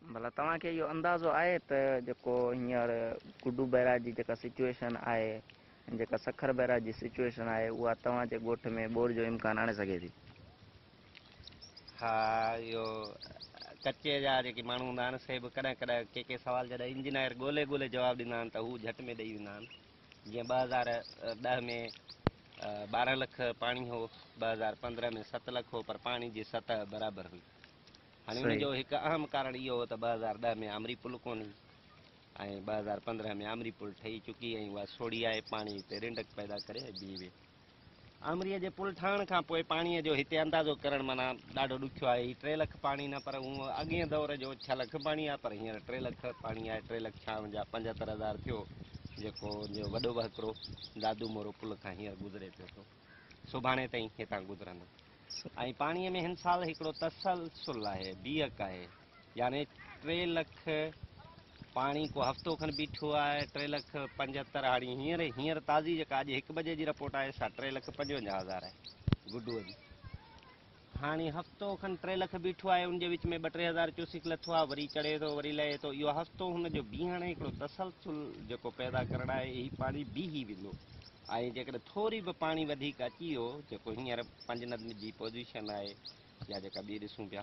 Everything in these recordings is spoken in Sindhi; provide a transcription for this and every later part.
ڀلا توهان کي اهو اندازو آهي ته جيڪو هينئر گڊو بئراج جي جيڪا سچوئيشن آهي ۽ جيڪا سکر بئراج جي سچوئيشن آهي اها توهان جي ڳوٺ ۾ ٻوڏ جو امڪان آڻي سگهي ٿي؟ ها اهو ڪچي جا جيڪي ماڻهو هوندا آهن سي به ڪڏهن ڪڏهن ڪي ڪي سوال جڏهن انجنائر ڳولي ڳولي جواب ڏيندا آهن ته هو جهٽ ۾ ڏئي ويندا آهن. جيئن ٻه هزار ڏهه ۾ ٻارهن لک پاڻي هو، ٻه هزار پندرهن ۾ ست لک هو پر پاڻي جي سطح برابر هئي. هاڻي ان جو هڪ اهم ڪارڻ اهو هو ته ٻه هزار ڏهه ۾ آمري پل ڪونه هئي ۽ ٻه هزار پندرهن ۾ آمري پل ٺهي چڪي ۽ اها سوڙهي آهي، پاڻي اتي رنڊڪ پيدا ڪري ۽ بيهي ويهي. آمريء جي پل ٺاهڻ کان پوء پاڻيء جو هتي اندازو ڪرڻ معنيٰ ڏاڍو ڏکيو آهي. هي ٽي لک پاڻي نه پر هونء اڳئين دؤر جو ڇهه لک پاڻي آهي پر هينئر ٽي لک پاڻي آهي. ٽي لک ڇا اڻ جا پنجهتر هزار ٿيو جيڪو ان جو وڏو وهڪرو دادو مورو پل کان هينئر گذري پيو سو سڀاڻي تائين هتان گذرندو ۽ پاڻيء ۾ هن سال هڪڙو تسلسل آهي، بيهڪ آهي. يعني ٽي لک پاڻي ڪو هفتو کن بيٺو آهي، ٽي لک پنجهتر هاڻي هينئر هينئر تازي جيڪا اڄ هڪ بجي جي رپورٽ آهي سا ٽي لک پنجونجاهه هزار آهي گڊوء جي. هاڻي هفتو کن ٽي لک بيٺو آهي ان جي وچ ۾ ٻه ٽي هزار ڪيوسڪ لٿو آهي وري چڙهي ٿو وري لهي ٿو اهو هفتو هن جو بيهڻ ۽ هڪڙو تسلسل جيڪو پيدا ڪرڻ آهي هي پاڻي بيهي ويندو ۽ جيڪڏهن ٿوري به پاڻي وڌيڪ اچي ويو جيڪو هينئر پنجندن جي پوزيشن آهي يا جيڪا ٻي ڏسون پيا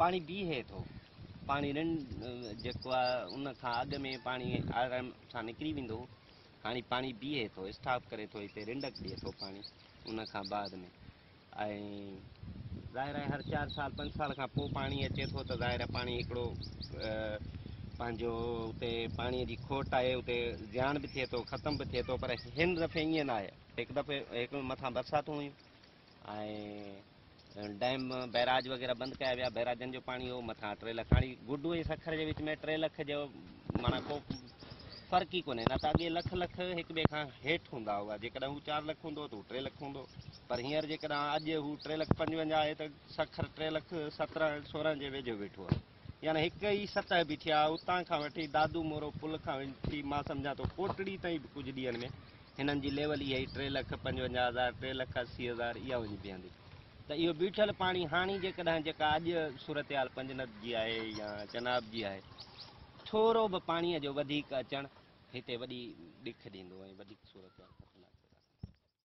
پاڻي بيهي ٿو. پاڻي رن جيڪو آهي ان کان اڳ ۾ پاڻي آرام سان نڪري ويندو هو. هاڻي پاڻي بيهي ٿو، اسٽاپ ڪري ٿو هتي رنڊڪ ڏئي ٿو پاڻي ان کان بعد ۾ ۽ ظاهر آهي هر چار سال پنج سال کان پوء پاڻي اچي ٿو ته ظاهر آهي پاڻي هڪڙو پنهنجو اتي پاڻي جي کوٽ آهي اتي زيان به ٿئي ٿو ختم به ٿئي ٿو پر هن دفعي ائين ناهي هڪ دفعي هڪ مٿان برساتون هيون ۽ ڊيم بئراج وغيره بند ڪيا ويا بئراجن جو پاڻي هو مٿان ٽي لک هاڻي گڊو ۽ سکر جي وچ ۾ ٽي لک جو معنيٰ ڪو فرق ئي ڪونهي نه ته اڳي لک لک هڪ ٻئي کان هيٺ هوندا هئا جيڪڏهن هو چار لک هوندو ته هو ٽي لک هوندو پر هينئر جيڪڏهن اڄ هو ٽي لک پنجونجاهه آهي ته سکر ٽي لک سترهن سورهن جي ويجهو ويٺو آهي يعني هڪ ئي سطح به ٿيا، اتان کان وٺي دادو مورو پل کان وٺي مان سمجهان ٿو ڪوٽڙي تائين به ڪجهه ڏينهن ۾ هنن جي ليول اها ئي ٽي لک پنجونجاهه هزار، ٽي لک اسي هزار اها وڃي بيهندي ته اهو بيٺل پاڻي هاڻي جيڪڏهن جيڪا اڄ صورتحال پنجنت جي آهي يا چناب جي آهي ٿورو به پاڻيء جو وڌيڪ اچڻ هتي وڏي ڏک ڏيندو ۽ وڌيڪ صورتحال خطرناڪ پيدا ڪندو.